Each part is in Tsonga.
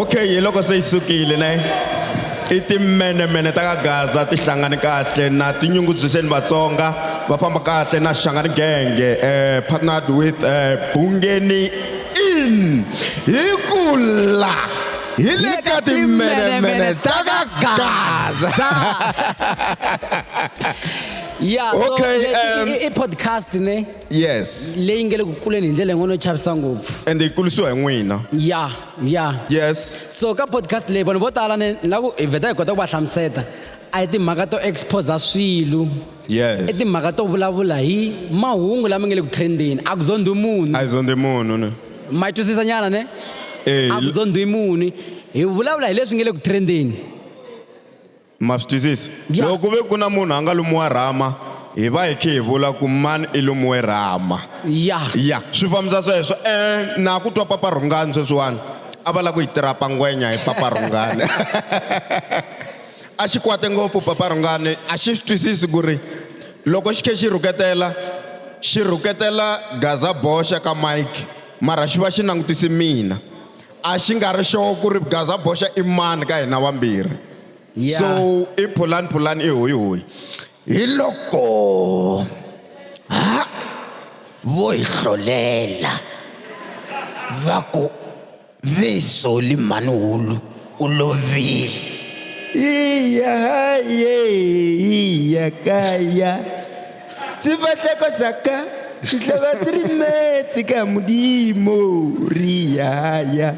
okay hi loko se yi sukile ne i timenemene ta ka gaza ti hlangane kahle na tinyungubyiseni vatsonga va famba kahle na xangani genge um partnered with um bungeni in hi kula hi le ka timenemene ta ka gaza ya so Okay, le- i- um, i- i podcast ne yes leyi nge le ku kuleni hi ndlela yin'wana yo chavisa ngopfu ende yi kulisiwa hi n'wina ya ya yes so ka podcast leyi vanhu vo tala ne na ku hi vheta hi kota ku va hlamuseta a hi timhaka to exposa swilo i yes timhaka to vulavula hi mahungu lama nge le ku trendeni a ku zondhi munhu a yi zondhi munhu ne ma yi twisisa nyana ne Eh, a ku dyondzi hi muni hi vulavula hi leswi nge le ku trendeni ma swi twisisa Ya. loko ku ve ku na munhu a nga lumiwa rhama hi va hi khe hi vula ku mani i lumiwe rhama ya ya swi fambisa sweswo um na ku twa papa rhungani sweswiwani a va lava ku yi tirapa ngwenya hi papa rhungani A xi kwate ngopfu Papa Rhungani a xi swi twisisi ku ri loko xi khe xi rhuketela xi rhuketela Gaza boxa ka Mike mara xi va xi langutise mina a xi nga ri sure ku ri Gaza boxa i mani ka hina vambirhi Yeah. so i phulani phulani i hoyi hoyi hi loko ha vo hi hlolela va ku Vesoli Mhani-Hulu u lovile. Iya haye iya kaya sifahleko saka sihlava si ri metsi ka Mulimu ri yaya.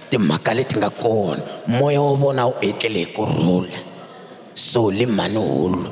Timhaka leti nga kona, moya wa vona wu etlele hi ku rhula. Soli Mhani-Hulu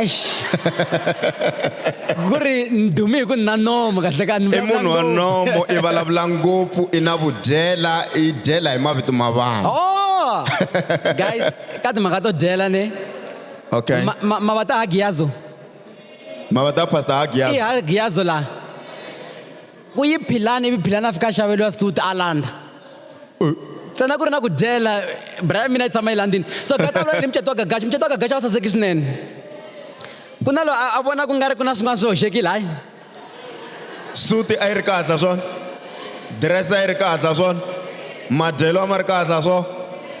eish ku ri ni dume hi ku ni na nomo kahle ka ni i munhu wa nomo i vulavula ngopfu i na vudyela i dyela hi mavito ma vanhu oh guys ka timhaka to dyela ne okay ma, ma, ma va ta hagiyazo ma va ta pastor hagiyazo i hagiyazo laha Ku yi philani ivi philani a fika a xaveriwa suit a landza. Ntsena ku ri na ku dyela bra ya mina yi tshama yi landzini. So Gagaxa u vulavula ni mucato wa Gagaxa, mucato wa Gagaxa a wu saseki swinene. Ku na loyi a a vona ku nga ri ku na swin'wana swi hoxekile hayi. Suit a yi ri kahle ha swona, dress a yi ri kahle ha swona. Madyelo a ma ri kahle a swo?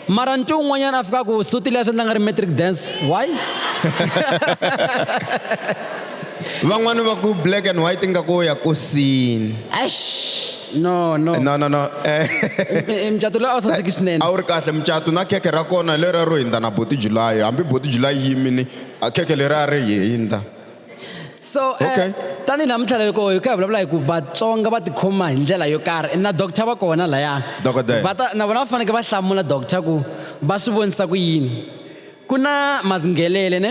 Mara ntu un'wanyana a fika ku suti leyi a swi endla nga ri matric dance. Why? Van'wana va ku black and white ingaku wo ya kosini. Eish! No, no. No, no, no. I- i mucato lowu a wu saseki swinene. A wu ri kahle mucato na khekhe ra kona hi leriya ro hindza na Buti July. Hambi Buti July yi yimini, a khekhe leriya a ri hindza. so eh, okay. uh, tanihi laha mintlhela yo koho hi ka hi vulavula hi ku vatsonga va tikhoma hi ndlela yo karhi na doctor va kona laya na vona va fanekele va hlamula doctor ku va swi vonisa ku yini ku na mazinghelele ne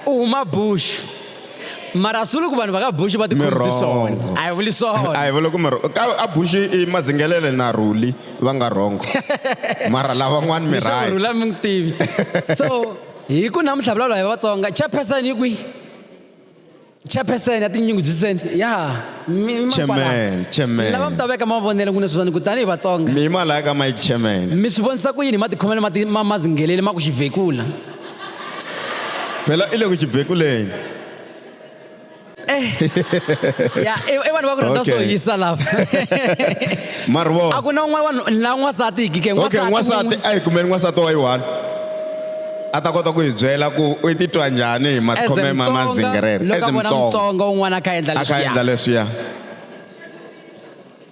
u huma bushu mara a swi vuli ku vanhu va ka buxi va tikhomisi swona a hi vuli swona a hi vuli ku mirhongo ka a buxi i madzingelele na rhuli va nga rhongo mara lavan'wani mirhula mi n'wi tivi so hi ku namuntlha vulavula hi vatsonga chairperson yi kwihi chairperson ya tinyungubyiseni ya lava mi ta veka mavonelo ku ne swi vona ku tanihi vatsonga mi yima laya ka mike chairman mi swi vonisa ku yini hi matikhomelo ma ma ma ku xivhekula phela i le ku xibekuleni eh. ya i vanhu va ku rhandza swo hisa lava marivoo a ku na un'wana vanhu la n'wansati hi kike n'wansati a hi kumeli n'wansati wa yi-one a ta kota ku hi byela ku u titwa njhani hi makhome ma mazingerere as mtsongo un'wana a kha endla leswiya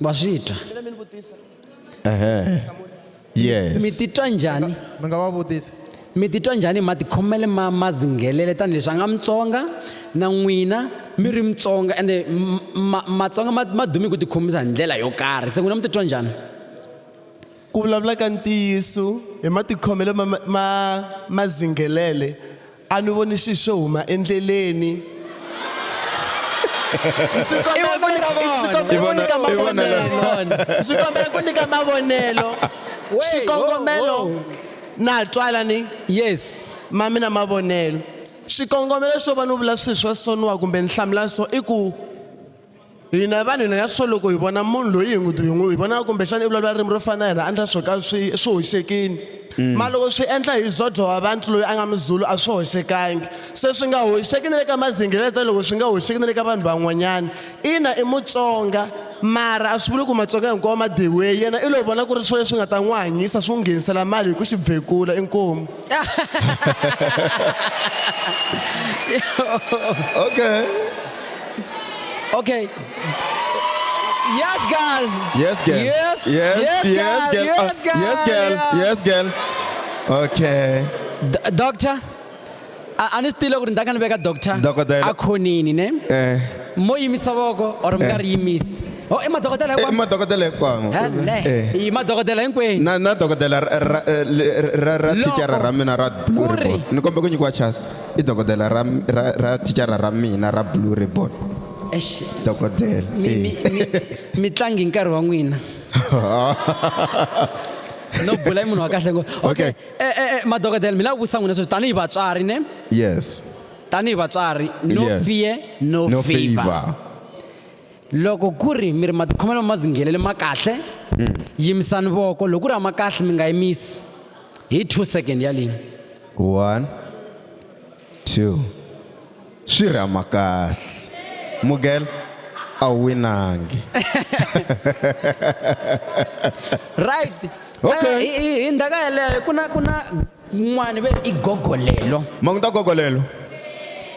wa swi twa yes mi titwa njhani mi nga va vutisa mi titwa njhani hi matikhomele ma ma zinghelele tanihileswi a nga mutsonga na n'wina mi ri mutsonga ende matsonga ma ma dume hi ku tikhomisa hi ndlela yo karhi se n'wina mi titwa njhani ku vulavula ka ntiyiso hi matikhomelo ma ma ma zinghelele A ni voni swilo swo huma endleleni. Ndzi kombela ku nyika ndzi kombela ku nyika mavonelo. Ndzi kombela ku nyika mavonelo. Xikongomelo na twa lani? Yes. Ma mina mavonelo. Xikongomelo xo va ni vula swilo swa so ni wa kumbe ni hlamula so i ku. hina vanhu hina ya swo loko hi vona munhu loyi hi n'wi hi n'wi hi vona kumbexana i vulavula ririmi ro fana na hina a endla swo ka swi swi hoxekini mm. mara loko swi endla hi zodho wa vantu loyi a nga mizulu a swi hoxekangi se swi nga hoxeki ni le ka mazingele tani loko swi nga hoxeki ni le ka vanhu van'wanyana ina i mutsonga mara a swi vuli ku matsonga hinkwawo ma dyiwe yena i lo vona ku ri swo leswi nga ta n'wi hanyisa swi n'wi nghenisela mali hi ku xi bvekula inkomu okay Okay. Yes, girl. Yes, girl. Yes, yes, yes, yes girl. Yes, uh, girl. Yes, girl. Yes, girl. Okay. D doctor. ani swi tiva ku ri ndza ka ni veka doctor Dokodela. a khonini ne Eh. mo yimisa voko or mi nga ri yimisi o i madokodela Eh, madokodela hinkwawo hele Eh. i madokodela hinkwenu na na dokodela ra- ra- eh, le- ra- ra Loko thicara ra mina ra ku ri- ni kombe ku nyikiwa chance i dokodela ra ra ra thicara ra mina ra blue ribbon Eish, dokodela mi- eh. mi- mi- mi tlangi hi nkarhi wa n'wina no bula i munhu wa kahle ngo okay Okay. eh, eh, eh, madokodela mi lava ku vutisa n'wina sweswi tanihi vatswari ne yes tanihi vatswari no Yes. fear no, no favor favor loko ku ri mi ri matikhomelo ma zinghelele ma kahle yimisani voko loko ku ri a ma kahle mi nga yimisi hi two second yalini one two swi ri a ma kahle mugel a wu winangi right Okay. Eh, hi hi- hi ndhaka yeleyo ku na ku na yin'wana ve i gogolelo ma ku ta gogolelo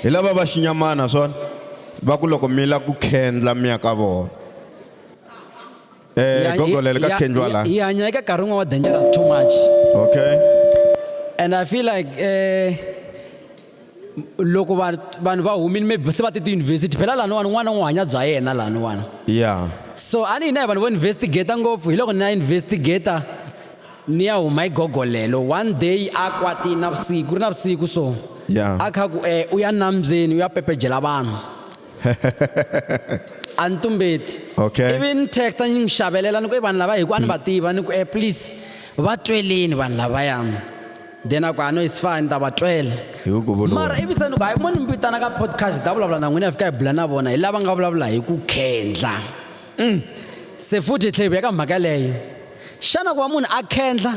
hi lava va xinyamana swona va ku loko mi la ku khendla mi ya ka vona eh Ya- gogolelo ya- ka khendliwa ya- la hi hanya eka nkarhi wun'wana wa dangerous too much okay and i feel like eh loko vanhu va humile maybe se va ti tiyunivhesiti phela laniwani n'wana n'wi hanya bya yena laniwani ya so a ni hina hi vanhu vo investigata ngopfu hi loko ni ya investigata ni ya huma hi gogolelo one day a kwatini na vusiku ri na vusiku so ya a kha ku um u ya nambyeni u ya pepejela vanhu a ni tumbeti okay ivi ni texta ni n'wi xavelela ni ku i vanhu lava hi ku a ni va tiva ni ku um please va tweleni vanhu lavayani then a ku i know it's fine ni ta va twela hi ku ku vuriwa mara ivi se ni ku hayi mo ni mi vitana ka podcast ni ta vulavula na n'wina hi fika hi bula na vona hi lava nga vulavula hi ku khendla Mm. se futhi hi tlhe hi vuya ka mhaka yeleyo xana ku va munhu a khendla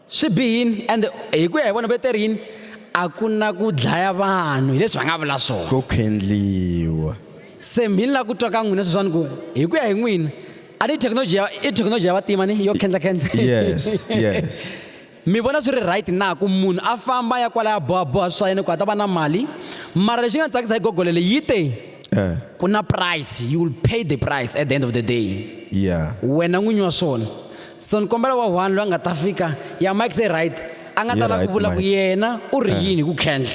swi bihini and hi ku ya hi vona va te ri yini a ku na ku dlaya vanhu hileswi va nga vula swona ku khendliwa se mhini la ku twa ka n'wina sweswani ku hi ku ya hi n'wina a ni thekinoloji ya i thekinoloji ya vatima ni yo khendlakhendla yes yes mi vona swi ri right na ku munhu a famba ya kwala ya bohaboha swa yena ku a ta va na mali mara lexi nga ni tsakisa hi gogole leyi yi te eh. ku na price you will pay the price at the end of the day yeah wena n'winyi wa swona so ni kombela wa one loyi a nga ta fika ya mike se right a nga ta lava ku vula ku yena u ri eh. yini ku khendla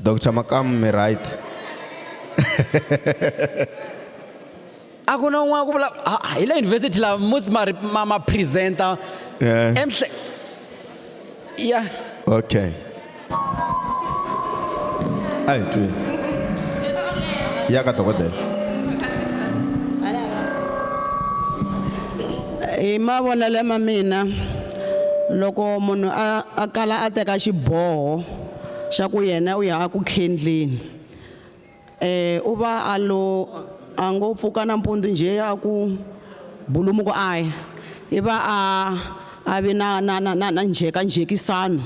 Dr. Makamu mi right. a ku na un'wana ku vula ah, ah, hi le university laha musi ma ri- ma ma presenta Yeah. emhle ya Okay. Ayi twi. Ya ka dokodela. hi mavonelo ma mina loko munhu a a kala a teka xiboho xa ku yena u ya a ku khendleni um u va a lo a ngo pfuka nampundzu njhe a ku bulumuku a ya i va a a vi na na na na na njhekanjhekisano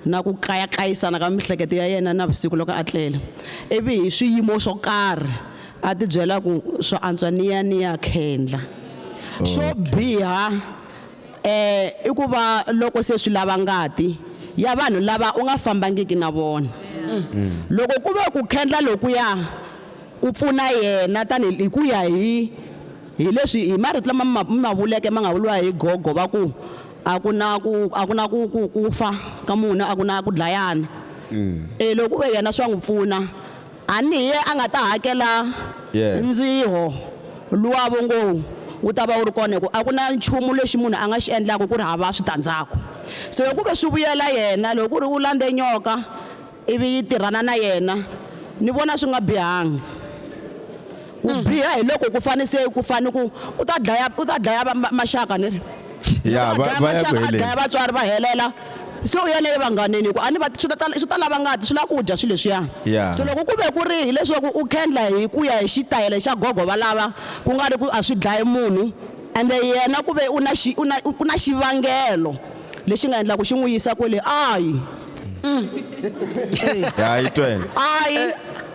na ku kayakayisana ka miehleketo ya yena navusiku loko a tlela ivi hi swiyimo swo karhi a tibyela ku swa antswa ni ya ni ya khendla xo biha Eh, i ku va loko se swi lava ngati ya vanhu lava u nga fambangiki na vona. Loko ku ve ku khendla lokuya ku pfuna yena tanihi hi ku ya hi hi leswi hi marito lama mi ma- mi ma vuleke ma nga vuriwa hi gogo va ku a ku na ku a ku na ku ku ku fa ka munhu a ku na ku dlayana. Eh, loko ku ve yena swa n'wi pfuna A ni hi a nga ta hakela Yes. ndziho luwavo ngo wu ta va wu ri kona hi ku a ku na nchumu lexi munhu a nga xi endlaka ku ri hava switandzhaku. Se loko ku ve swi vuyela yena loko ku ri u landze nyoka ivi yi tirhana na yena ni vona swi nga bihanga. ku mm. biha hi loko ku fane se ku fane ku u ta dlaya u ta dlaya maxaka ni ri ya va va ya ku heleni dlaya vatswari va helela se u yele evanghaneni ku a ni va swi ta swi ta lava ngati swi lava ku dya swilo leswiya so loko ku ve ku ri hileswaku u khendla hi ku ya hi xitayele xa gogo valava ku nga ri ku a swi dlayi munhu ende yena ku ve u na xi u na ku na xivangelo lexi nga endlaka xi n'wi yisa kwele ayi mm. ayi twele ayi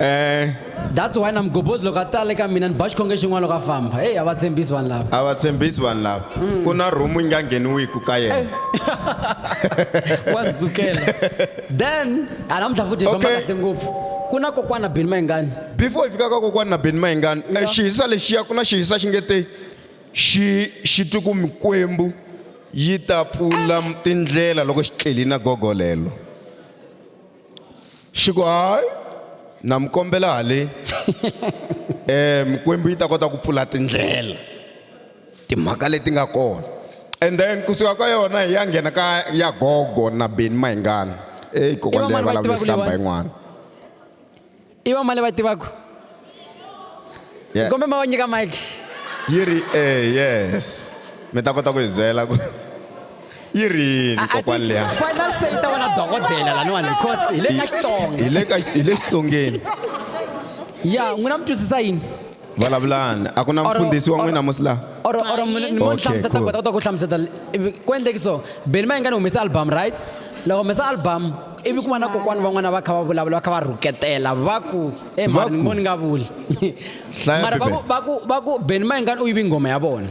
Eh, that's why na mugobhozi loko a tale ka mina ni ba xikhonge xin'wana loko a famba heyi a va tshembisi vanhu lava a va tshembisi vanhu lava Mm. ku na rhumu yi nga ngheniwiku ka yena wa ndzi sukela then a namuntlha futhi hi famba Okay. kahle ngopfu ku na kokwana bini mayingani before hi fika ka kokwana na beni mayingani eh, xihisa lexiya ku na xihisa xi nge te xi xi twi ku mikwembu yi ta pfula tindlela loko xi tleli na gogo lelo xi ku hayi na mi kombela haleni um mikwembu yi ta kota ku pfula tindlela timhaka leti nga kona and then kusuka ka yona hi ya nghena ka ya gogo na beni mahingana eyi kokwana leyi va lava ku hlamba yin'wana i va mani va tivaku yeah. kombe ma va nyika mike yi ri e yes mi ta kota ku hi byela ku yi rini kokwani leya final se yi ta va na dokodela laniwani because hi le ka xitsonga hi le xitsongeni ya n'wina mi twisisa yini vulavulani a ku na Or- mfundhisi wa or- n'wina musi laha or or Hayi. mi mo Okay, hlamuseta cool. kota kota ku hlamuseta ivi ku endleki so beni ma ingani humesa album right la humesa album ivi ku va na kokwani van'wana va kha va vulavula va kha va rhuketela va ku e Va mari ni ku- ngo ni nga vuli Hlaya mara va ku- Bibele. va ku va ku beni ma ingani u yivi nghoma ya vona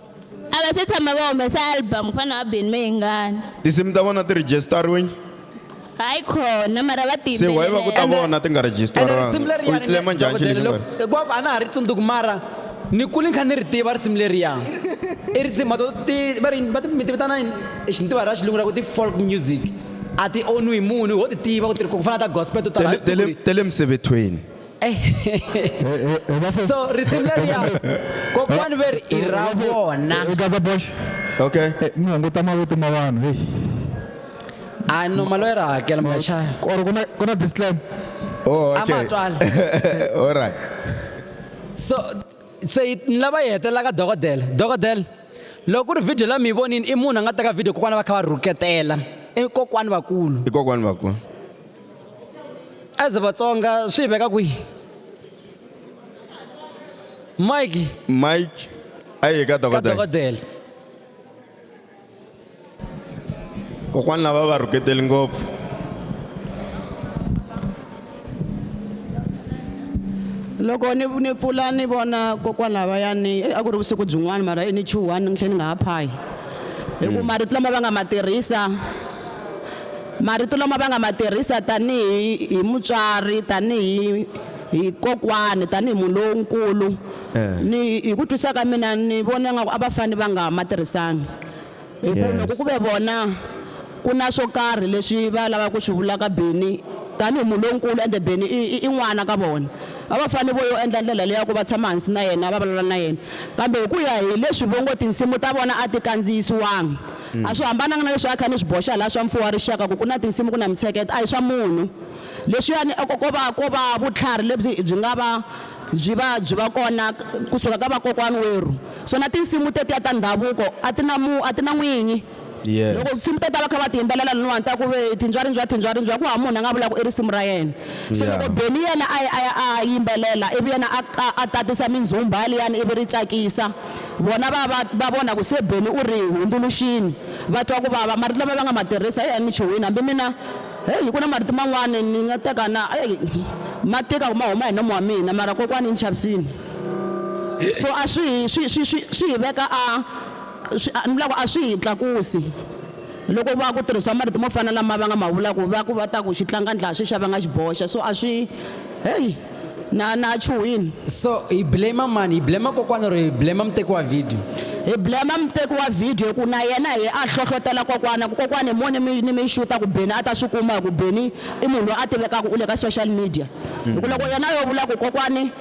a va se tshama va humesa album ku fana na vabeni meyingani tinsimu ta vona ti register-riwini hayi khona mara va se why va ku ta tiyimbelela vona ti nga register-riwangi u yi tlema njhani xilo xi nga ri hinkwako a na ha ri tsundzuki mara ni kule ni kha ni ri tiva risimu leriya i risimu to ti va ri va ti mi ti vitana yini hi xintiwa ra xilungu ra ku ti-folk music a ti onwi hi munhu ho ti tiva ku ti ri ku fana na ta gospel to tala Tele- tele- tele misevethweni so risimu leriya kokwani ve ri i ra vona gaza bosh okay eh, mi hunguta mavito ma vanhu heyi a no mali ya ra hakela machaya or kuna kuna disclaim oh okay amatwala all right so se ni lava yi hetelelaka dokodela dokodela loko ku ri video la mi yi vonini i munhu a nga teka video kokwana va kha va rhuketela i kokwani vakulu i kokwani vakulu as vatsonga swi veka kwihi mike mike a yi ka dokodela dokodela kokwani lava va rhuketeli ngopfu loko ni ni pfula ni vona kokwani lavayani eh, a ku ri vusiku byin'wana mara eh, ni chuhani ni tlhe ni nga ha phayi hi ku marito lama va nga ma tirhisa Marito lama va nga ma tirhisa tanihi hi mutswari, tanihi hi kokwani, tanihi munhu lonkulu ni hi ku twisisa ka mina ni vona nga ku a va fane va nga ma tirhisanga hi ku loko ku ve vona ku na swo karhi leswi va lava ku swi vula ka Benny tanihi munhu lonkulu ende Benny i i i n'wana ka vona a va fane vo yo endla ndlela leya ku va tshama hansi na yena va vulavula na yena kambe hi ku ya hi leswi vo ngo tinsimu ta vona a ti kandziyisiwanga A swi hambananga na leswi a kha ni swi boxa laha swa Mfuwo wa Rixaka ku ku na tinsimu ku na mintsheketo a hi swa munhu. Leswiyani a ko ko va ko va vutlhari lebyi byi nga va byi va byi va kona ku suka ka vakokwani werhu. So na tinsimu tetiya ta ndhavuko a ti na mu a ti na n'winyi. Loko Yes. tinsimu tetiya va kha va ti yimbelela laniwani ta ku ve Thindwa rindwa thindwa rindwa ku hava munhu a nga vula ku i risimu ra yena. So Yeah. loko Benny yena a ya a ya a yimbelela ivi yena a a tatisa mindzumba liyani ivi ri tsakisa. Vona va va va vona ku se Benny u ri hundzuluxini, va twa ku vava. Marito lama va nga ma tirhisa hi emichuhwini, hambi mina, heyi, ku na marito man'wana ni nga ta ka na, heyi, ma tika ku ma huma hi nomo wa mina, mara kokwani yi ni chavisini. So a swi hi, swi, swi, swi, swi hi veka a, swi, a, ni vula ku a swi hi tlakusi loko va ku tirhisiwa marito mo fana na lama va nga ma vula ku va ku va ta ku xitlangandla a xi xa va nga xi boxa. So a swi, heyi. na na chuhini so hi blame mani hi blame kokwana or hi blame muteki wa video hi blame muteki wa video ku na yena hi a hlohlotela kokwana ku kokwana hi mone mi ni mi xuta ku beni a ta swi kuma hi ku beni i munhu loyi a tivekaka u le ka social media hi ku loko yena yo vula ku kokwani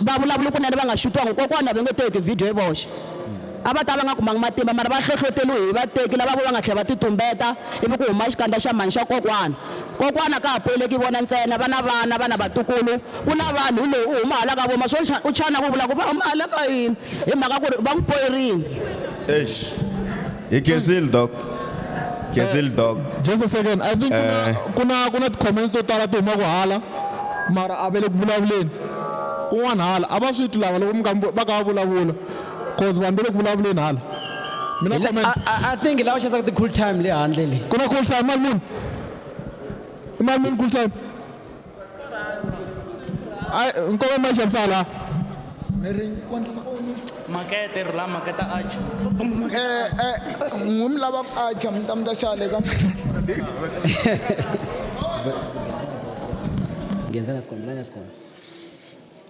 va vulavula kunene va nga xutiwangi kokwana va nge teki video hi voxe a va ta va nga kumangi matimba mara va hlohloteriwe hi vateki lava vo va nga tlhela va titumbeta ivi ku huma xikandza xa mhani xa kokwana Kokwana ka ha pfumeleki vona ntsena, va na vana, va na vatukulu, ku na vanhu. Hi loyi u huma hala ka vo Masoncha, u chana ku vula ku va huma hala ka yini hi mhaka ku ri va n'wi poyerile. Eish. Hi khensile Doc. Khensile Doc. Just a second, I think kuna Eh. kuna kuna ti-comments to tala ti humaka hala mara a va le ku vulavuleni kun'wana hala a va swi twi lava loko mi kha mi vu- va kha va vulavula. cause vanhu va le ku vulavuleni hala mi na comment I, I, I think lava xanisaka ti-cool time le handle le ku na cool time mali muni i mali muni cool time ai nkova ma xavisa hala makete rhula maketa acha ngumi lava ku acha mi ta mi ta xale ka ngenzana sikhona lana sikhona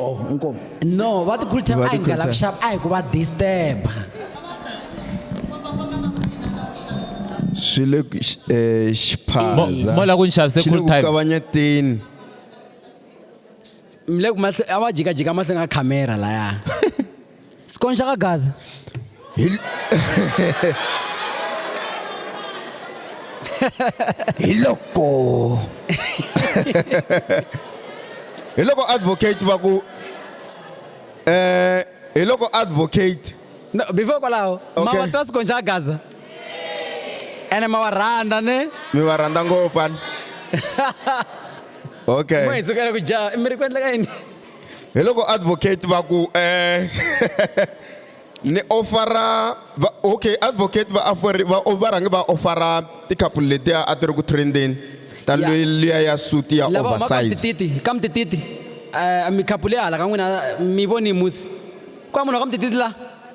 oh inkomo no va ti khulutela a hi nga lavi xava a hi ku va disturba swi le ku- x- eh, xiphaza Mo- mo la ku ni xavise Xi le cool ku time. kavanyeteni mi le ku mahlo- a va jikajika mahlweni ka khamera laya Sikonxa ka Gaza. Hi, hi loko hi loko advocate va ku eh hi loko advocate No, before kwalaho ma Okay. wa twa sikonxa ka Gaza ene ma wa rhandza ne mi va rhandza ngopfu ani okay mo hi sukela ku jaha i mi ri ku endleka yini Hi loko advocate va ku eh ni ofara va okay advocate va offer va va rhange va ofara ti-couple letiya a ti ri ku trendeni ta Ya. loyi liya ya suit ya lava humaka oversize mtititi ka mtititi um mikhaphu leyi hala ka n'wina mi voni musi ku va munhu wa ka mtititi la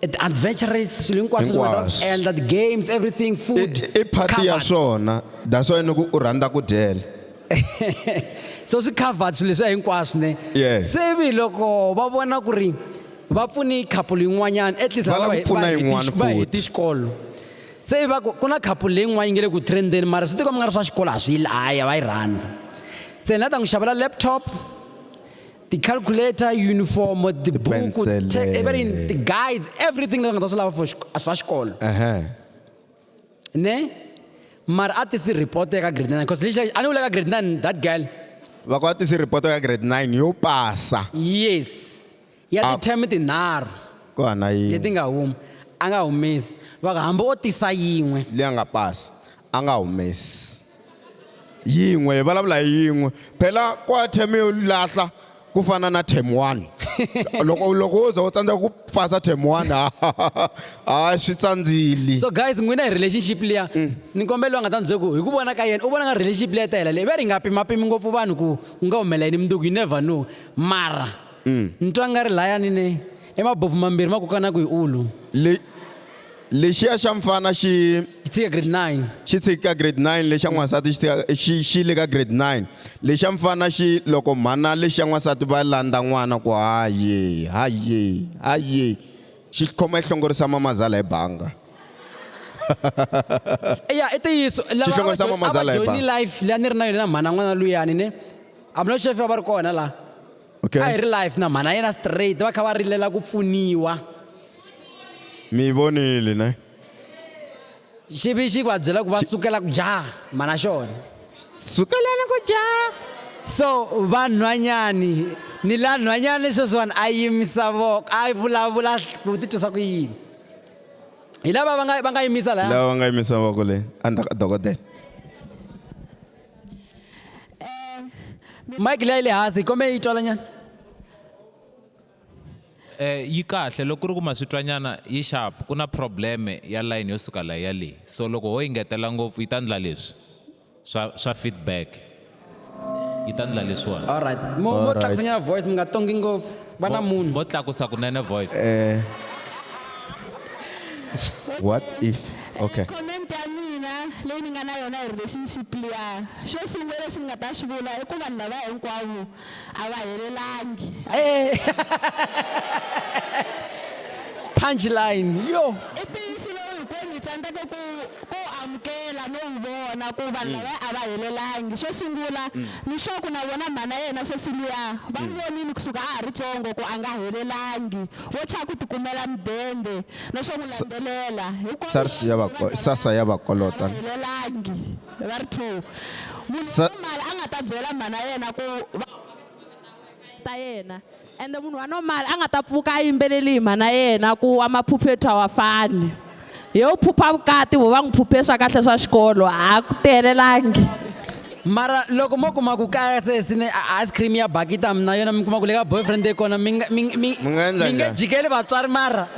the adventurous swilo hinkwaswo leswi u nga ta Hinkwaswo. endla ti-games everything food i party ya covered. swona that's why ni ku u rhandza ku dyela so swi covered swilo leswiya hinkwaswo ne Yes. se vi loko va vona ku ri va pfune couple yin'wanyana at least Va lava lava ku hi- pfuna va heti- yin'wana va heti futhi. xikolo se va ku ku na couple leyin'wana yi nge le ku trendeni mara swi tiko mi nga ri swa xikolo a swi yi laya va yi rhandza se ni la ta n'wi xavela laptop ti-calculator yunifomo tibuku Ti-pencil, te- eh. everything ti-guides everything leyi nga ta swi lava for xik- swa xikolo Ehe. ne mara a ti si report eka grade nine because lexi a ni vula ka grade nine that girl va ku a tisi report ya grade 9 yo pasa yes ya Ah. ti-term tinharhu ku hana yi leti nga huma a nga humesi va ku hambi o tisa yin'we leyi a nga pasi a nga humesi yin'we hi vulavula hi yin'we phela kwa term yo lahla ku fana na term one loko loko wo za u tsandzeka ku pasa term one ha swi tsandzili so guys n'wina hi relationship liya mm. ni kombela va nga ta ni ku hi ku vona ka yena u vona nga relationship liya ta hela leyi va ri nga pimapimi ngopfu vanhu ku u nga humelela yini munduku you never know mara mm. ni twa nga ri layani ne emabofu mambirhi ma kokana ku hi ulu lexiya xa mfana xi xi tshika grade 9 xi tshiki ka grade 9 lexa n'wansati xi tshika xi xi le ka grade 9 lexa mfana xi loko mhana lexa n'wansati va landza n'wana ku haye haye haye xi khoma yi hlongorisa mamazala hi banga ya i ntiyiso lava Xi hlongorisa a va- mama a va Zala hi join banga. life leyi a ni ri na yona na mhana n'wana luyani ne hambiloko xefe va ri kona laha Okay. a hi ri live na mhana yena straight va kha va rilela ku pfuniwa mi yi vonile ne xivi xi va byela ku va sukela ku jaha mhana xona sukelani ku jaha so vanhwanyani ni la nhwanyani sweswiwani a yimisa voko a vulavula ku titwisa ku yini hi lava va nga va nga yimisa laya lava va nga yimisa voko leyi a ni ta ka dokodela mike leyi le hansi hi kombela yi twalanyana eh yi kahle loko ku ri ku maswitwanyana yi sharp ku na probleme ya line yo suka layi ya leyi so loko ho yi ngetela ngopfu yi ta ndla leswi swa swa feedback yi ta ndla leswiwani Alright. Mo mo Alright. tlakusanyana voice mi nga tongi ngopfu. va na munhu vo tlakusa kunene voice eh, what if okay comment ya mina leyi ni nga na yona hi relationship liya xo sungula lexi ni nga ta xi vula i ku vanhu lava hinkwavo a va helelangi punchline yo i ntiyiso lowu hinkwenu hi tsandzeke ku ku amukela no wu vona ku vanhu lava a va helelangi. Xo sungula, Mixoku na vona mhana yena sesi luya va n'wi vonile ku suka a ha ri tsongo ku a nga helelangi, vo chava ku tikumela mudende na swo n'wi landzelela. Hinkwawo va ri va byela leswaku a nga helelangi. Va ri two, Munhu wa mali a nga ta byela mhana yena ku va ta yena. ende munhu wa normal a nga ta pfuka a yimbeleli hi mhana yena ku wa maphuphe thwa wa fani he u phupha vukati vo va n'wi phuphe swa kahle swa xikolo a ku tihelelangi mara loko mo kuma ku kaya se sine ice cream ya bakita mina yona mi kuma ku le ka boyfriend ye kona mi nga mi nga jikeli vatswari mara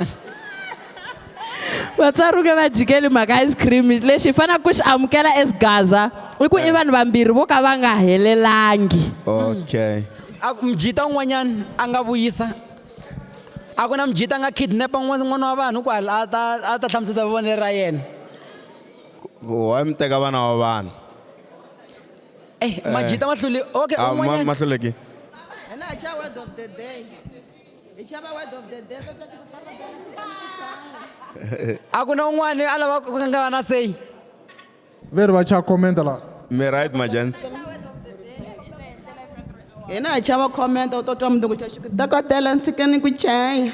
vatswari nge va jikeli mhaka ice cream lexi hi faneleke ku xi amukela as gaza i ku i vanhu vambirhi vo ka va nga helelangi okay a ku mjita un'wanyana a nga vuyisa a ku na mjita a nga kidnapa n'wana wa vanhu ku a ta a ta hlamuseta vonelo ra yena wa mi teka vana wa vanhu eh majita mahluli okay un'wanyana mahluleki hi chava word of the day kota a ku na un'wana a lava ku nga na seyi veri va cha commenta la mi right majansi hina hi chava commenta u to twa munhu ku twa xiku dokodela ndzi ka ni ku chaya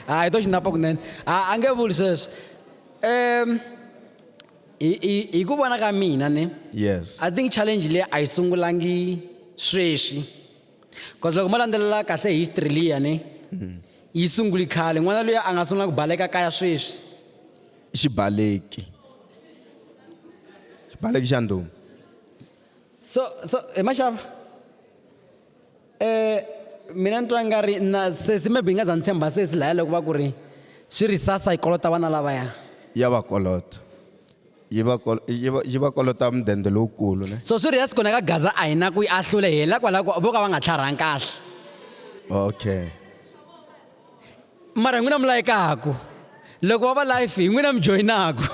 hayi to xinapa kunene a nge vuli sweswo um hi, hi, hi ku vona ka mina ne yes i think challenge leyi a yi sungulangi sweswi bcause loko mo landzelela kahle history liya ne mm. yi sunguli khale n'wana loyi a nga sungula ku baleka kaya sweswi xibaleki xibaleki xa ndhuma so so hi maxava mina ni twa nga ri na sesi maybe yi nga za ni tshemba sesi laya loko va ku ri swi ri sasa yi kolota vana lavaya ya va kolota yi va kol- yi va- yi va kolota mudende lowukulu ne so swi ri yasi kona ka gaza a hi na ku yi ahlule hi hela kwalaho ko vo ka va nga tlharhangi kahle okay mara hi n'wina mi layekaku loko va va life hi n'wina mi joyinaku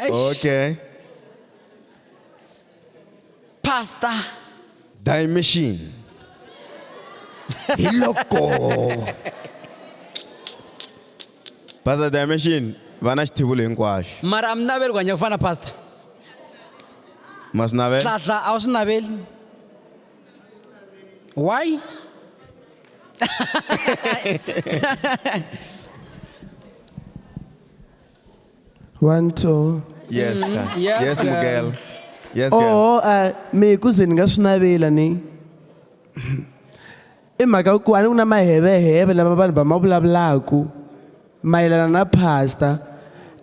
Eish. okay Pastor. Dimension. Hi loko. Pastor Dimension va na xithivulo hinkwaxo. Mara a mi naveli ku hanya ku fana pastor. Ma swi navela? Hlahla a wu swi naveli. Why? one two yes sir. Mm-hmm. Yes, yes girl. mugel yes girl oo a mi ku ze ni nga swi navela ni i mhaka ku a ni ku na maheveheve lama vanhu va ma vulavulaku mayelana na pastor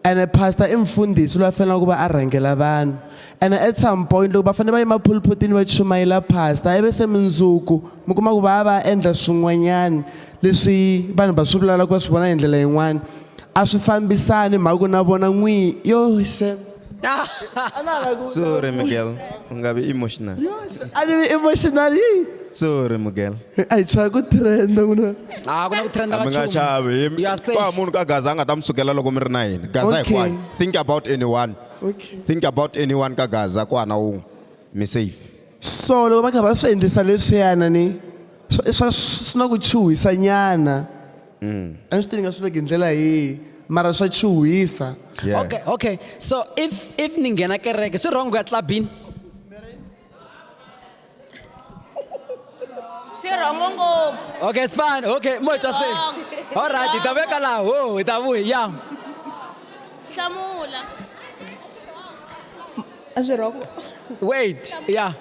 ene pastor i mfundhisi loyi a fanelaka ku va a rhangela vanhu And at some point loko va fanele va yima phulputini va chumayela pastor ivi se mundzuku mi kuma ku va ya va ya endla swin'wanyani leswi vanhu va swi vulavulaka va swi vona hi ndlela yin'wani a swi fambisani mhaka ku na vona n'wini yo xem sorry miguel u nga vi emotional a ni vi emotional yi sorry miguel a hi chava ku trenda n'wina a ku na ku trenda mi nga chavi You are safe. kwa munhu ka gaza a nga ta mi sukela loko mi ri na yini gaza Okay. hinkwayo think about anyone Okay. think about anyone ka gaza ku hana wun'we mi safe so loko va kha va swi endlisa leswiyana ni swa- swa swi na ku chuhisa nyana a ni swi tivi nga swi veke hi ndlela yihi mara swa chuhisa yeah. okay okay so if if ni nghena kereke swi wrong ku ya clubini swi rhongo ngopfu okay it's fine okay mo twa se all right hi ta veka laha ho hi ta vuhi ya hlamula a swi rhongo wait ya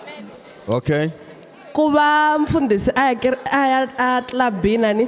okay ku va mfundhisi a ya a ya a clubini a ni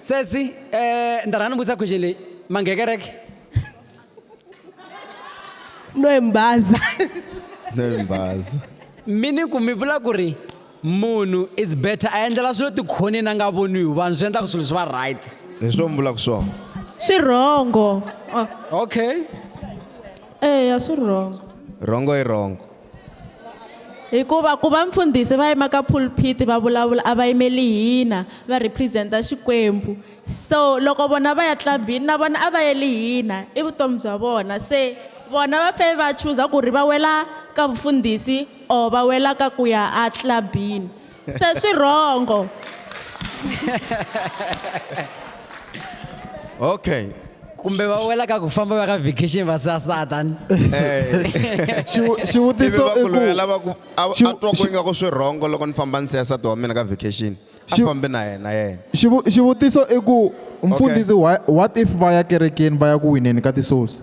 Sesi eh ni ta rhanga ni vutisa question leyi ma nghe kereke no embaza no embaza mi ni ku mi vula ku ri munhu is better a endlela swilo tikhoneni a nga voniwi vanhu swi endlaka swilo swi va right hi swo mi vulaka swona swi rhongo okay eya swi rhongo rhongo i rhongo Hikuva ku va mfundhisi va yima ka pulpit va vulavula a va yimeli hina va represent-a Xikwembu. So loko vona va ya club-ini na vona a va yeli hina i vutomi bya vona se vona va fe va chuza ku ri va wela ka vufundhisi or va wela ka ku ya a club-ini. se swi rhongo okay kumbe va wela ka ku famba va ka vacation va sasata ni Eh. Xivu- xivutiso Ivi va ku i ku- loyi a lava ku- a a Xivu- twa ku xi- ingaku swi rhongo loko ni famba ni siya nsati wa mina ka vacation a Xivu- fambi na yena yena Xivu- xivutiso i ku mfundhisi wha- what if va ya kerekeni va ya ku wineni ka tisouls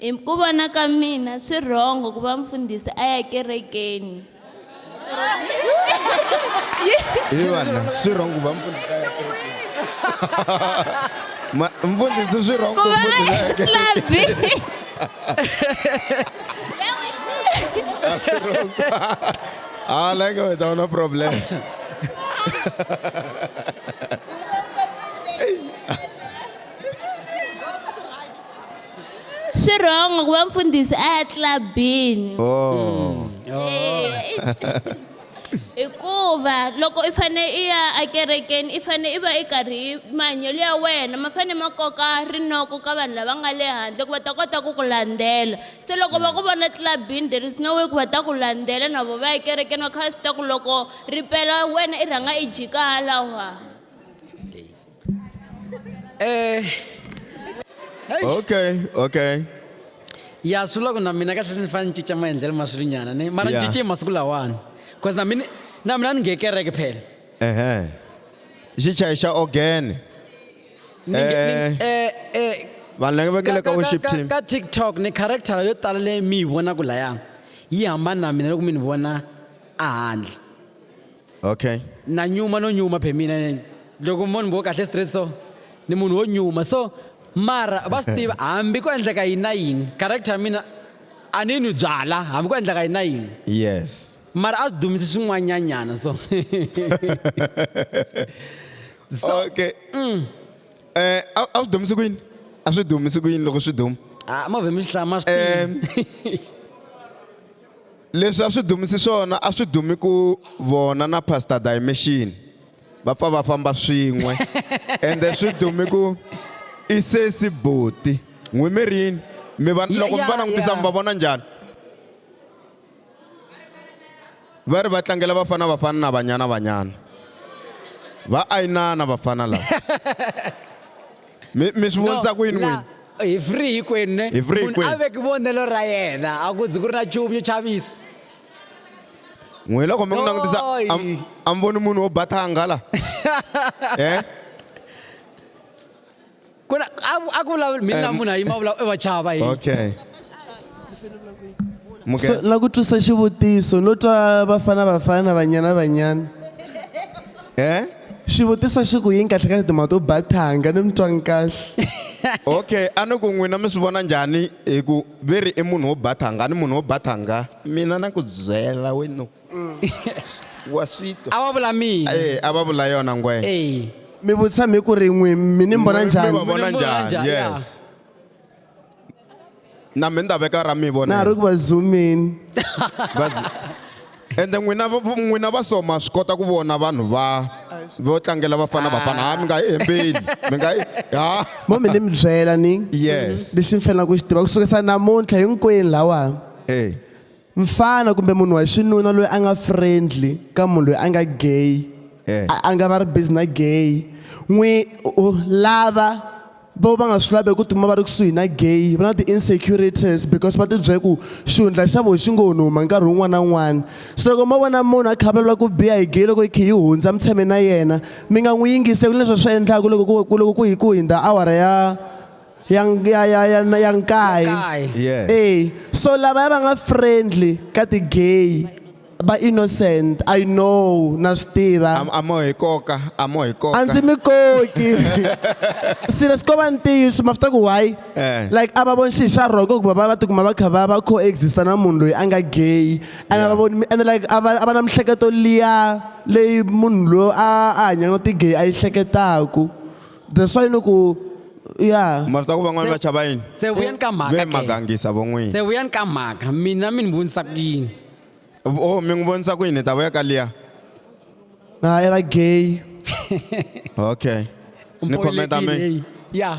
Hi ku vona ka mina swi wrong ku va mfundhisi a ya kerekeni. Hi vana swi wrong ku va mfundhisi a ya kerekeni. Ma- Mfundhisi swi wrong ku Ku va mfundhisi a ya kerekeni. labi. A swi wrong. Ah, la nga wena una problem. Swi wrong ku va mfundhisi a ya clubini. Oh. Eh, hikuva loko i fane i ya ekerekeni i fane i va i karhi i mahanyelo ya wena ma fane ma koka rinoko ka vanhu lava nga le handle ku va ta kota ku ku landzela se loko va ku vona clubini there is no way ku va ta ku landzela na vo va ya ekerekeni va kha va swi tiva ku loko ripela wena i rhanga i jika halawa. Eh. Hey. Okay, okay. ya swi vula ku na mina kahle ni fanele ni cinca maendlelo ma swilunyana ni mara ni Yeah. cince masiku lawani bcause na mina na mina ni nge kereke phela Ehe. Xichayi xa organ. Ni nge- Eh. ni- eh, eh, Vanhu lava ka- vekele ka ka- worship ka- team. ka tiktok ni character yo tala leyi mi yi vonaka laya yi hambana na mina loko mi ni vona a handle okay na nyuma no nyuma phe mina ne- loko mi vona mbo kahle straight so ni munhu wo nyuma so mara va swi tiva hambi ko endleka yini na yini character ya mina a ni nwi byala hambi ko endleka yini na yini yes mara a swi dumise swin'wanyanyana so so okay eh a a swi dumisi ku yini a swi dumisi ku yini loko swi duma ah, move mi swi hlaya ma swi tiva. Em. Leswi a swi dumisi swona a swi dumi ku vona na Pastor Dimension va pfa va famba swin'we ende swi dumi ku i sesi buti n'wi mi rini mi va Ya- loko mi va ya- langutisa ya. mi va vona njhani va ri va tlangela vafana vafana na banyana banyana va ayinana vafana lava mi mi swi vonisa ku yini n'wini hi free hinkwenu ne Hi free munhu a hinkwenu. veki vonelo ra yena a ku zi ku ri na nchumu yo chavisa n'wina loko mi n'wi langutisa Oi. am- a mi voni munhu wo ba thanga la Eh? ku na a a ku vulavula mina na munhu a yima vulavula e vachava hi okay So, la ku twisa xivutiso no twa vafana vafana vanyana vanyana Eh? xivutiso xi ku yini kahle kahle timhaka to ba thanga ni mi twanga kahle okay a ni ku n'wina mi swi vona njhani hi ku ve ri i munhu wo ba thanga a ni munhu wo ba thanga mina na ku byela wenu wa swi twa a wa vula mina Eh, a va vula yona ngwenya mi vutisa mi ku ri n'wi mi ni mi mbona va njhani vona njhani yes na mi ni ta veka ra mi vona na ha ri ku va zoomini ende n'wina n'wina va so ma swi kota ku vona vanhu va vo tlangela vafana vafana ha mi nga yi hembeli mi nga yi ha mo mi ni mi byela ni yes lexi mi fanelaka ku xi tiva ku sukisa namuntlha hinkwenu lawa hey. mfana kumbe munhu wa xinuna loyi a nga friendly ka munhu loyi a nga gay eh. a nga va ri busy na gay n'wi lava vo va nga swi lavi ku tuma va ri kusuhi na gay va na ti-insecurities because va tibyele ku xihundla xa vo xi ngo ni huma nkarhi wun'wana na wun'wana so loko mo vona munhu a khavalula ku biya hi gay loko yi khe yi hundza mi tshame na yena mi nga n'wi yingisi ku leswi swi endlaka loko ku loko ku hi ku hundza awara ya ya ya ya ya na- ya nkaye Nkaye. Yes. Eh, so lava va nga friendly ka ti gay va innocent i know na swi tiva Am- amo hi koka amo hi koka a ndzi mi koki serious ko va ntiyiso ma swi tiva ku why Eh. like a va voni xi xa rhoko ku va va va tikuma va kha va va coexista na munhu loyi a nga gay and a va voni and like a va a va na mihleketo liya leyi munhu loyi a a hanyaka na ti-gay a yi hleketaku the swa yini ku ya ma swi tiva ku van'wana va chava yini se vuyani ka mhaka ve ke. magangisa vo n'wini se vuyani ka mhaka mina mi ni vonisa ku yini o mi n'wi vonisa ku yini hi ta vuya ka liya ha i va gay okay ni khometa mi Mpoyilekile, ya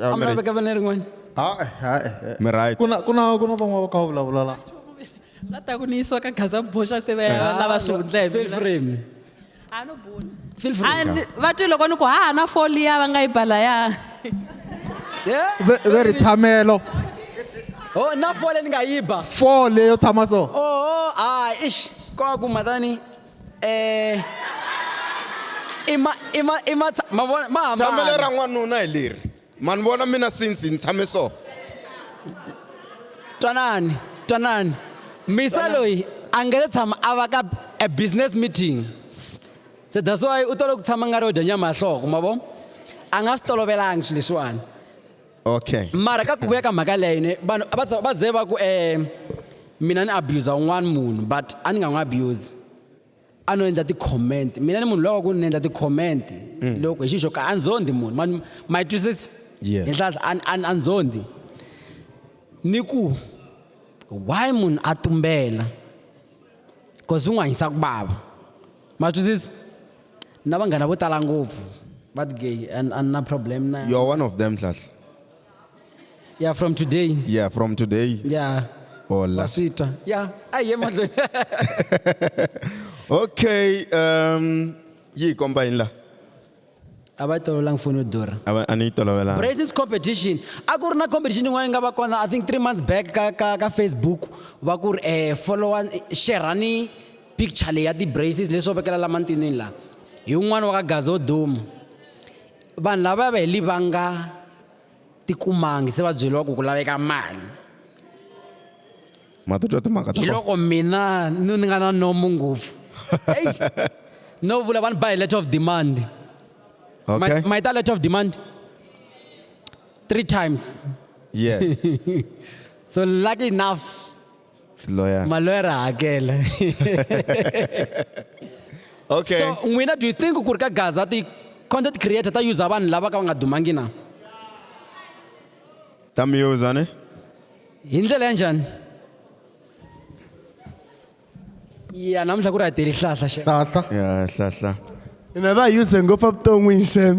I'm not gonna have one. Ah, eh, ah, eh, eh. Mi right. Kuna kuna kuna van'wana va kha va vulavula la. la ta ku ni yisiwa ka gaza boxa se va ya Ah, lava swi hundla hi Feel mina. free. a no bula Feel free. A ni- va twi loko ni ku ha na foli ya va nga yi bala ya Yeah. Ve- Ve ri tshamelo. Oh, na fole ni nga yiba. Four leyo tshama so. Oh, oh, ah, ish. Kwa ku matani. i ma i ma i ma ma vona ma hambana tshamelo ra n'wanuna hi leri ma ni vona mina since ni tshame so twanani twanani misa loyi a nge se tshama a va ka a business meeting se that's why u tolo ku tshama nga ri yo dya nyama ya hloko ma vo a nga swi tolovelanga swilo leswiwani okay mara ka ku vuya ka mhaka leyo ne vanhu a va za- va ze va ku um mina ni abusa un'wana munhu but a ni nga n'wi abuse a no endla ti-comment mina ni munhu lowa ku ni endla ti-comment loko hi xi xo ka a nzondi munhu ma- ma yi twisisa Yeah. henhlahla a ni- a ni- a nzondi ni ku why munhu a tumbela cause u n'wi hanyisa ku vava ma twisisa na vanghana vo tala ngopfu va ti-gay and a ni na problem na you're one of them nhlahla yeah from today yeah from today yeah hola sitwa yeah ayi ye mahlweni okay um yi komba yini la a va yi tolovelanga foni yo durha a va- a ni yi tolovelanga braces competition a ku ri na competition yin'wana yi nga va kona i think three months back ka, ka, ka facebook va ku ri eh, followa sherani picture leyi ya ti-braces leswo vekela la mantinini la hi un'wana wa ka gazi wo duma vanhu lava va heli va nga tikumangi se va byeriwa ku ku laveka mali ma ta twa timhaka ta hi loko mina ni ni nga na nomo ngopfu eyi no vula vanhu ba hi letter of demand okay ma yi ta letter of demand three times yeah so lucky enough lawyer maloyera hakela okay so n'wina do you think ku ri ka gaza ti content creator ta user vanhu lava ka va nga dumangi na ta mi uza ne hi ndlela ya njhani ya namuntlha ku ri a teli hlahla xe hlahla ya hlahla hina va use ngopfu evuton'wini xem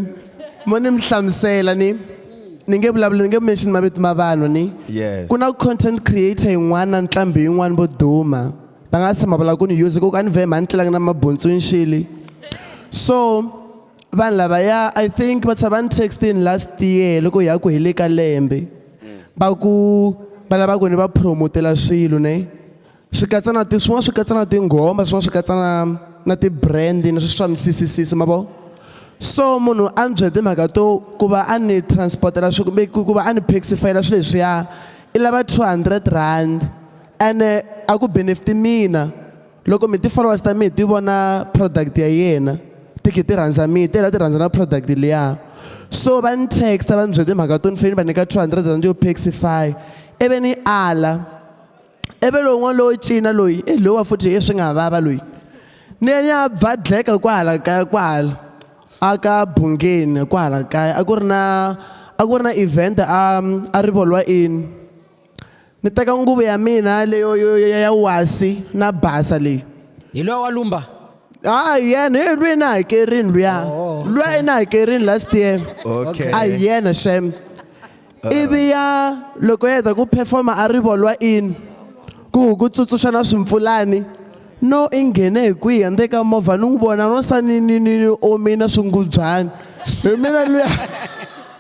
mo ni mi hlamusela ni ni nge vulavula ni nge mention mavito ma vanhu ni Yes. ku na content creator yin'wana na nqambi yin'wana vo duma va nga tshama vula ku ni use ku ka ni vhe mhani tlelanga na mabuntswinxili so vanhu lavaya i think va tshava ni textini last year loko hi ya ku hi le ka lembe va ku va lava ku ni va promotela swilo ne swi katsa na ti swin'wana swi katsa na tinghoma swin'wana swi katsa na na ti-brand ni swi swa misisisisi ma vo so munhu a ni byele timhaka to ku va a ni transport-ela swi kumbe ku va a ni paxifayela swilo leswiya i lava two hundred rand ene a ku benefit mina loko mi ti-followers ta mina ti vona product ya yena ti khe ti rhandza mina ti hela ti rhandza na product liya so va ni text va ni byele timhaka to ni fanele ni va nyika two hundred rand yo paxify ivi ni ala ivi lowun'wana lowo cina loyi i lowa futhi i swi nga vava loyi ni ya ni ya bvadleka kwahala kaya kwahala a ka bungeni kwahala kaya a ku ri na a ku ri na event a a rivolwa in Ni teka nguvu ya mina leyo yo- yo- ya wasi na basa leyi. hi loyi wa lumba Ah, yena hey, lweyi na hakerini luya. Oh, okay. Lweyi na hakerini last year. Okay. A hi yena shem. Ivi ya loko ya heta ku performa a rivolwa in ku ku tsutsuxa na swimpfulani. No i nghene hi kwihi handle ka movha ni n'wi vona no sa ni ni ni ni omina swingubyana. Hi mina luya.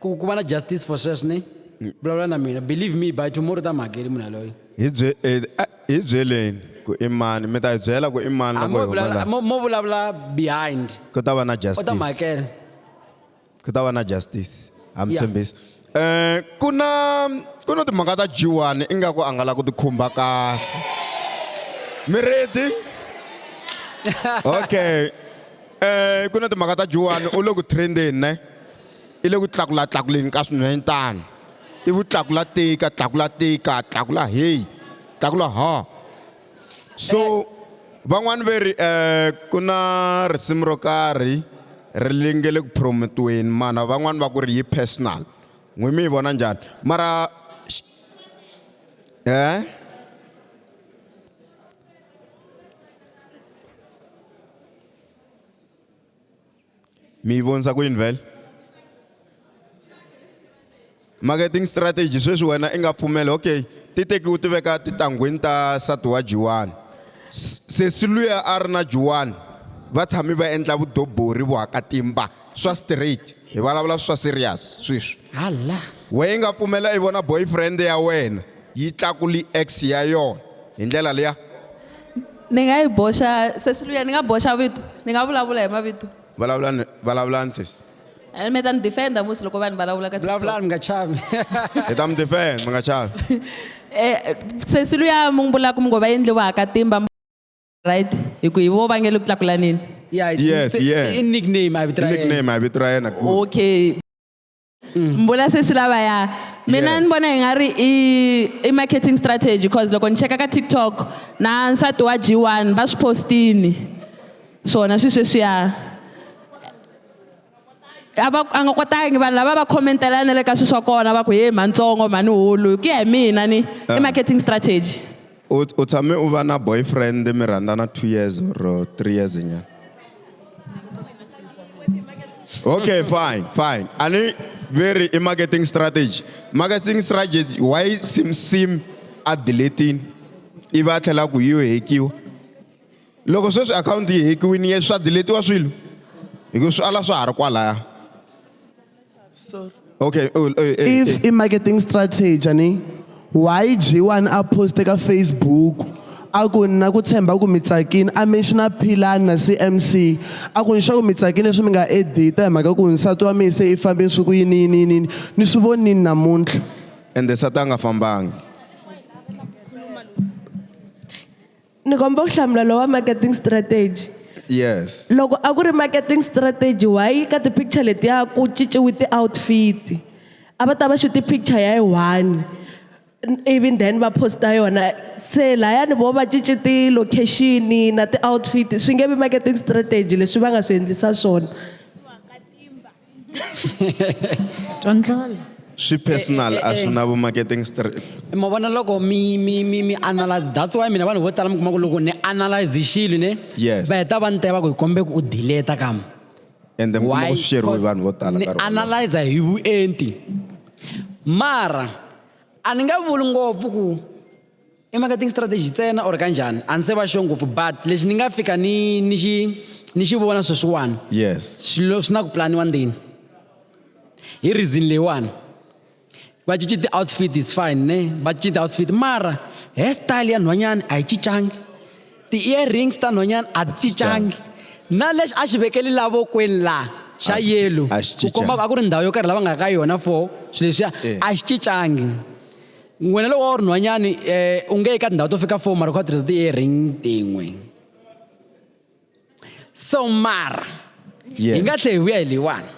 ku ku va na justice for sweswo ni vulavula na mina believe me by tomorrow u ta mi hakeli munhu yaloye hi bye eh, ah, hi byeleni ku i mani mi ta hi byela ku i mani Ah, loko mo hi huma vulavula- laha mo mo vulavula behind ku ta va na u ta mi justice hakela ku ta va na justice ha mi Yeah. tshembisi um ku na ku na timhaka ta jiwani ingaku a nga la ku tikhumba kahle mi ready okay um ku na timhaka ta jiwani u le ku trendeni ne i le ku tlakulatlakuleni ka swinhwenyetana i vu tlakula tika tlakula tika tlakula heyi tlakula ha so van'wani ve ri um ku na risimu ro karhi ri linge le ku promote-weni mana van'wani va ku ri yi personal n'wina mi yi vona njhani mara um Mi yi vonisa ku yini vhele? Marketing strategy sweswi wena i nga pfumela okay ti tekiwa ti veka titangwini ta nsati wa Juwani sesi luya a ri na Juwani va tshami va endla vudobori vuhakatimba swa straight hi vulavula swa serious sweswi hala wena i nga pfumela i vona boyfriend ya wena yi tlakuli x ya yona hi ndlela liya ni nga yi boxa sesi luya ni nga boxa vito ni nga vulavula hi mavito vulavula ni- vulavulani sesi Eh, mi ta ni defenda musi loko vanhu vulavula ka TikTok. vulavulani mi nga chavi hi ta mi defend mi nga chavi Eh, sesi luya mi n'wi vulaka mi ngo va endliwa ha katimba mi- right hi ku hi vo va nge le ku tlakulaneni Yeah, it's- Yes, it's- yeah. i nickname a vito ra yena. nickname a vito ra yena good. okay Mm. mbula sesi lavaya mina yes. ni vona hi nga ri i, i marketing strategy because loko ni cheka ka tiktok na nsati wa g one va swi postini swona swi sweswiya a va a nga kotangi vanhu lava va khomentela na le ka swilo swa kona va ku he mhatsongo mhani hulu ku ya hi mina ni i eh. marketing strategy u u tshame u va na boyfriend mi rhandzana two years or three years nyana okay fine fine a ni veri i marketing strategy marketing strategy why sim sim a deletini i va a tlhela ku yi yo hekiwa loko sweswi akhawunti yi hekiwini ye swa deletiwa swilo hi ku swi ala swa ha ri kwalaya. Sorry. Okay. Oh, oh, hey, hey. if i-marketing strategy a ni why g1 a poste ka facebook a ku ni na ku tshemba ku mi tsakini a menxiona philani na cmc a ku ni xa ku mi tsakini leswi mi nga edita hi mhaka ku nsati wa mina se i fambe swi ku yini yini yini yini ni swi vonini namuntlha ende sati a nga fambangi Ni kombela ku hlamula lowa marketing strategy. Yes. Loko a ku ri marketing strategy why ka ti-picture letiya ku cinciwe ti-outfit? A va ta va xuti picture ya yi one ivi then va post-a yona. Se lahaya ni vona va cince ti-location-i na ti-outfit swi nge vi marketing strategy leswi va nga swi endlisa swona. twa ndlala swi personal a swi na vu-marketing straight ma vona loko mi mi mi mi analyze that's why mina vanhu vo tala mi kuma ku loko ni analyze xilo ne Yes. va heta va ni teva ku hi kombe ku u dileta kama ende mi kuma ku swi sheriwe hi vanhu vo tala ni nkarhi wolowo. analyzer hi vuenti mara a ni nga vuli ngopfu ku i marketing strategy ntsena or kanjhani a ni se va xo ngopfu but lexi ni nga fika ni ni xi ni xi vona sweswiwani yes swilo swi na ku planiwa ndzeni hi reason leyiwani va cinci ti-outfit is fine ne va cinci ti-outfit mara hair style ya nhwanyana a yi cincangi ti-earrings ta nhwanyana a ti cincangi na lexi a xi vekeli lavokweni laha xa yellow ku komba a ku ri ndhawu yo karhi lava nga ka yona for swilo leswiya eh. a xi cincangi wena loko wa ri nhwanyani um eh, u nge eka tindhawu to fika four mara u kha tirhisa ti-earring tin'we so mara hi nga tlhe hi vuya hi leyiwani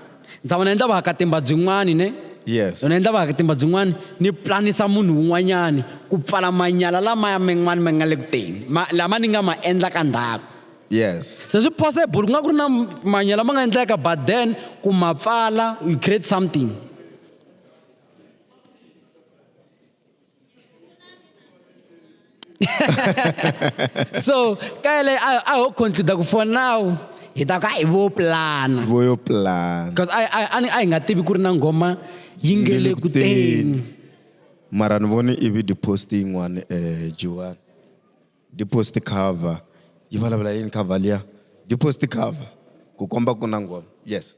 ndza vona endla vakatimba byin'wani ne yes yona endla vakatimba byin'wani ni planisa munhu un'wanyani ku pfala manyala lamaya man'wani ma nga le ku teni lama ni nga ma endla ka ndhaku yes se swi possible ku nga ku ri na manyala ma nga endleka but then ku ma pfala you create something so ka yeleyo a a ho concluda ku for now hi ta ku a hi vo plana vo yo plana because a a a ni- a hi nga tivi ku ri na nghoma yi nge le ku teni mara ni vone ivi depost yin'wana um jiwani depost cover yi vulavula yini cover liya depost cover ku komba ku na ngoma yes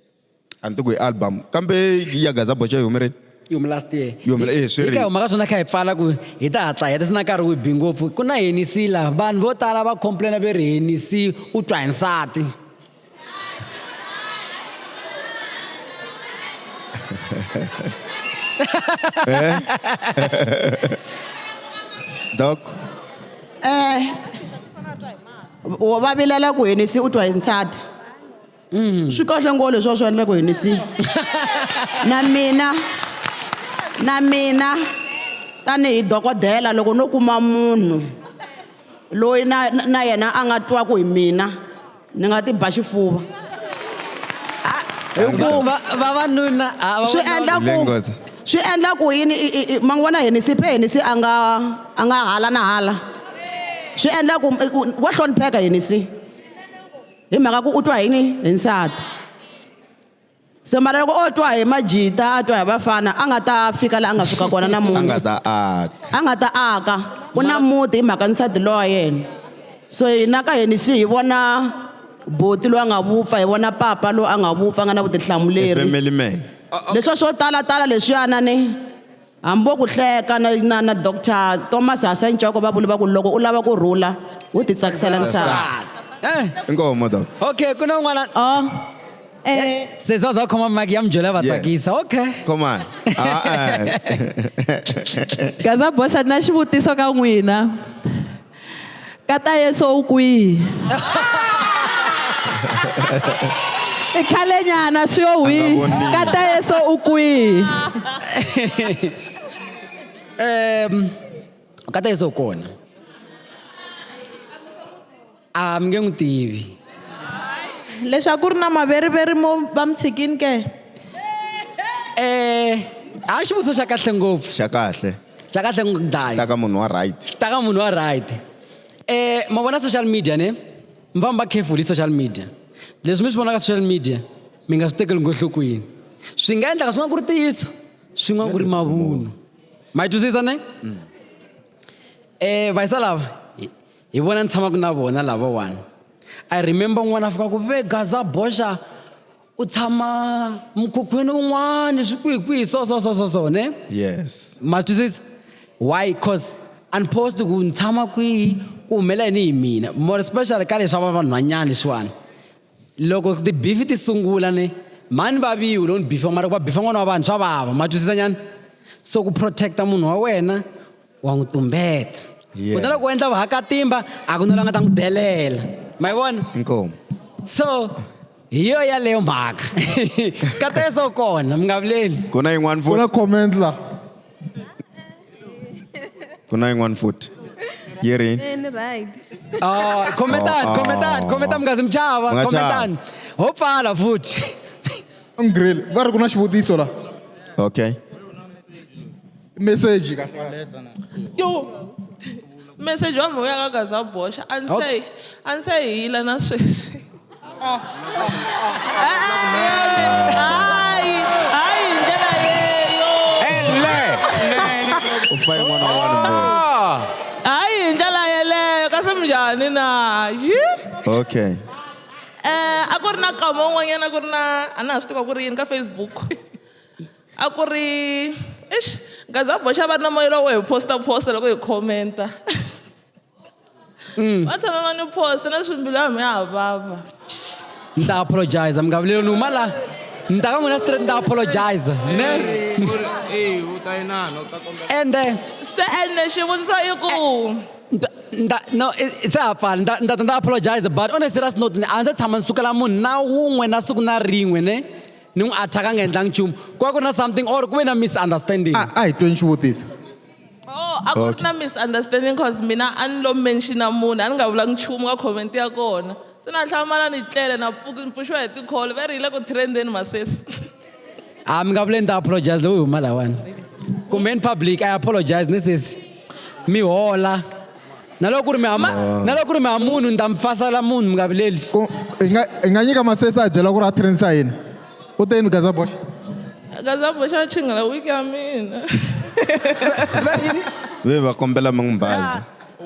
a ni ti ku hi album kambe ya gaza bocha yi humerile yi hume last year yi hume eh swi ri huma ka swona kha hi pfala ku hi ta hatla hi ta sina nkarhi wu bi ngopfu ku na henisi la vanhu vo tala va complaina ve ri henisi u twa hi nsati eh? doc eh va vilela ku henisi u twa hi nsati mm. swi kahle ngo leswi va swi endla ku hinisi na mina na mina tanihi dokodela loko no kuma munhu loyi na na yena a nga twaku hi mina ni nga ti ba xifuva hikuva vavanuna swi endla ku swi endla ku yini ma n'wi vona henisi phe henisi a nga a nga hala na hala swi endla ku wa hlonipheka henisi hi mhaka ku u twa hi ni hi nsati se mara loko o twa hi majita a twa hi vafana a nga ta fika laha a nga fika kona a nga namuntlha ta aka a nga ta aka u na muti hi mhaka nsati loyi wa yena so hina ka hina se hi vona boti loyi a nga vupfa hi vona papa loyi a nga vupfa a nga na vutihlamuleri family man leswiya swo talatala leswiyana ni Hambi vo ku hleka na na na Doctor Thomas Hasancoko va vule va ku loko u lava ku rhula u ti tsakisela nsati. Eh, Inkomo doc. okay ku na un'wana Oh. Eh, se za za khoma mic ya mi byela va Yeah. tsakisa okay Come on. Ah, eh. gaza bosa na xivutiso ka n'wina Kata Yesu u kwihi? I khale nyana swi yo hwi. Kata Yesu u kwihi? Um Kata Yesu u kona. A mi nge n'wi tivi. Leswaku ri na maveriveri mo va mi tshikini ke? Eh, a xivutiso xa kahle ngopfu. Xa kahle. xa kahle n'wi dlaya ta ka munhu wa right ta ka munhu wa right eh ma vona social media ne mi famba careful hi social media leswi mi swi vonaka social media mi nga swi tekeli ngohlokweni swi nga endlaka swin'wana ku ri tiyisa swin'wana ku ri mavunwa ma yi twisisa ne mm. eh vayisa lava hi vona ni tshamaka na vona lavawani i remember n'wana a fika ku ve gaza boxa u tshama mukhukhwini un'wani swikwihikwihi so so so so so ne yes ma twisisa why cause unpost ku ni tshama kwihi ku humela yini hi mina more special ka leswi va vanhwanyana leswiwani loko tibifi ti sungula ne mhani vaviwi loko ni bifiwa mara ku va bifa n'wana wa vanhu swa vava ma twisisa nyana so ku protect-a munhu wa wena wa n'wi tumbeta yeah. kutani loko u endla vahakatimba a ku na la nga ta n'wi delela ma yi vona inkomu so hi yo yaleyo mhaka ka teso kona mi nga vuleli ku na yin'wana futi na comment la ku na yin'wana futi yi ri oh, khometani oh, oh, khometani khometani mi nga zi mi chava khometani ho pfala futhi va ri ku na xivutiso la okay message kahle kahle Lesson. yo message wa mhaka ya ka za boxa a ndzi se a ndzi se hila na sweswi hayi hayi hi ndlela leyo u fane n'wana wa vanhu mbheni. hayi hi ndlela yeleyo kasi minjhani na yi okay um a ku ri na kama un'wanyana ku ri na a na ha swi tiva ku ri yini ka facebook A ku ri eish nghazi a boxa va ri na moya lowo hi post-a post-a loko hi comment-a. Va tshama va ni post-a na leswi mbilu ya mina ya ha vava. Ni ta apologize mi nga vileli ni huma la ni ta ka n'wina straight ni ta apologize ne. Ende Se ene xivutiso i ku ni ta ni ta no i i se ha pfala ni ta ni ta ta ni ta apologize but on a serious note ni a ndzi se tshama ni sukela munhu na wun'we na siku na rin'we ne. ni n'wi attack a nga endlangi nchumu ku va ku ri na something or ku ve na misunderstanding a a hi tweni xivutiso Oh, a ku ri na misunderstanding cause mina a ni lo mention-a munhu a ni nga vulangi nchumu ka comment ya kona se na hlamala ni tlele na pfuki ni pfuxiwa hi tikholo va ri yi le ku trendeni masesi a mi nga vule ni ta apologize lowu hi huma lawani kumbe ni public i apologize ni sesi mi hola na loko ku ri mi hama na loko ku ri mi ha munhu ni ta mi fasala munhu mi nga vileli Ku- hi nga hi nga nyika masesi a byela ku ri a trainisa hina u te yini gaza boxa akazaboxa chingela wiki ya mina ve va kombela mi n'wi baza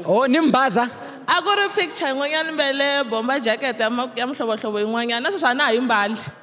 o ni mi baza a ku ri picture yin'wanyana mbele bomba jacket ya ma- ya mihlovohlovo yin'wanyana na sweswi a na ha yi mbali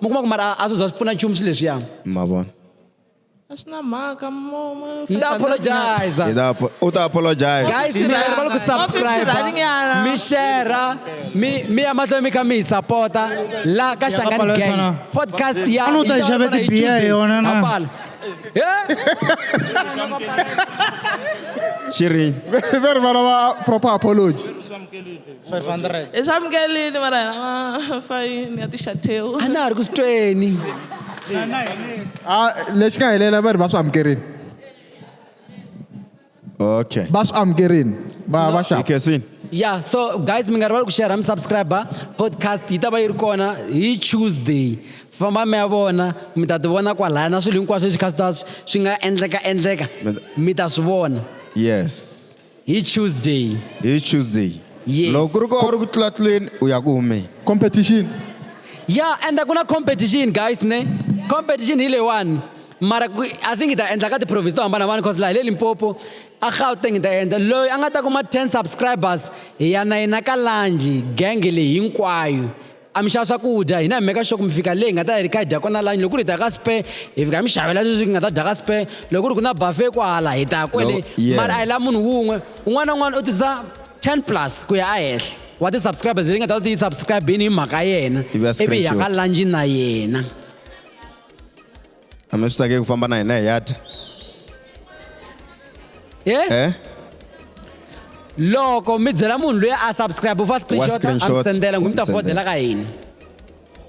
mi kuma ku mara a swi za swi pfuna nchumu swi leswiya ma vona a swi na mhaka mo- mo- ni ta apologize Hi ta apo- u ta apologize guys rhani va le ku Mo subscribe 50 rhani nyana. mi share mi mi ya mahlweni mi kha mi hi sapota la ka xangani pala gang sana. podcast ya A nu ta yi xave yi tibiya Tuesday. hi yona na? Ha pala. Eh? xi ri ve rivala va proper apology 500 hi swa mukelini va ra hina fayini ya tixatheu a na ha ri ku swi tweni a lexi nga helela va ri va swi amukerini okay va swi amukerini va va xava ikesini ya so guys mi nga rivali ku share mi subscriber podcast yi ta va yi ri kona hi tuesday famba mi ya vona mi ta ti vona kwalaya na swilo hinkwaswo leswi kha swi ta swi nga endleka endleka mi ta swi vona yes hi tuesday hi tuesday Yes. loko ku ri ko a ri ku tlula tluleni u ya ku humeni competition ya enda ku na competition guys ne competition hi leyiwani mara ku- i think hi ta endla ka ti-province to hambanahambana cause laha hi le limpopo a gauteng hi ta endla loyi a nga ta kuma 10 subscribers hi ya na yena ka lanji genge leyi hinkwayo a mi xava swakudya hina hi meka xoko mi fika leyi hi nga ta hi ri kha hi dya kona lani loko ku ri hi ta ka spe hi fika hi mi xavela leswi hi nga ta dya ka spe loko ku ri ku na buffet kwala hi ta kwele mara a hi la munhu wun'we un'wana na un'wana u tisa 10 plus ku ya ehenhla wa ti-subscribers leyi nga ta ti yi subscribini hi mhaka yena ivi hi ya ka lunch na yena a mi swi tsakeki ku famba na hina hi ya dya eh? eh? loko mi byela munhu loyi a subscribe u fa screenshot a mi sendela ngumi ta fodela ka hina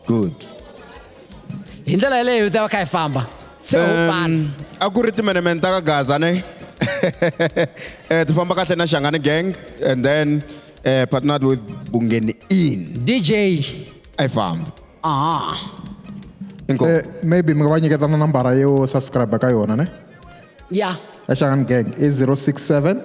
good hi ndlela yeleyo ta va kha hi famba se ho fana a ku ri timenemene ta ka gaza ne eh ti famba kahle na Shangani gang and then eh partnered with Bungeni in DJ I found. Ah. Inkosi. Eh, maybe mi nga va nyiketa na nambara yo subscribe ka yona ne Yeah. ya xangani gang i 067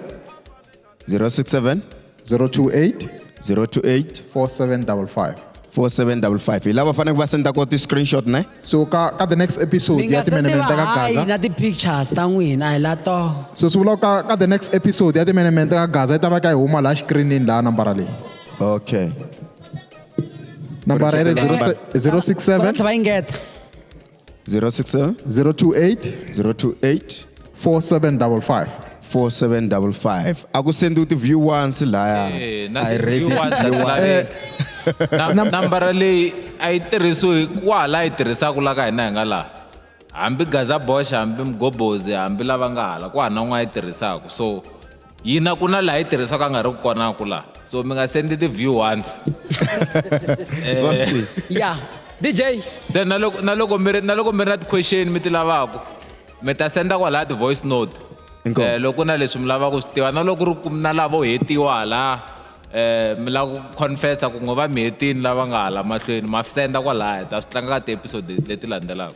067 028 028 4755 4755 hi lava faneleke va senda ko ti-screenshot ne so ka ka the next episode Mi ya nga se timenemene tiva ka hayi gaza na ti-pictures ta n'wina hi la to. so swi vula ku ka ka the next episode ya timenemene ka gaza yi ta va ka yi huma laha xikrinini laha nambara leyi okay nambara iri Number. 067 va ingeta 067 028 028 4755 4755 a ku sendiwi ti-view once laya Eh, na I ti- rate you want it, you that want line. it. Na- na- nambara leyi a yi tirhisiwi kwaha laha yi tirhisaka la ka hina hi nga laha hambi gaza bosh hambi mgobozi hambi lava nga hala kwaha na n'wana yi tirhisaka so yina ku na laha yi tirhisiwaka a nga ri ku kona ku laha so mi nga sendi ti-view once eh. ya dj se na loko na loko mi ri na loko mi ri na ti-question mi ti lavaka mi ta senda kwalaha ti-voice note um loko na leswi mi lavaka ku swi tiva na loko ri na lavo hetiwa laha um mi lava ku confessa ku ngo va mi hetini lava nga hala mahlweni ma senda kwalaya ta swi tlanga ka ti-episode leti landzelaka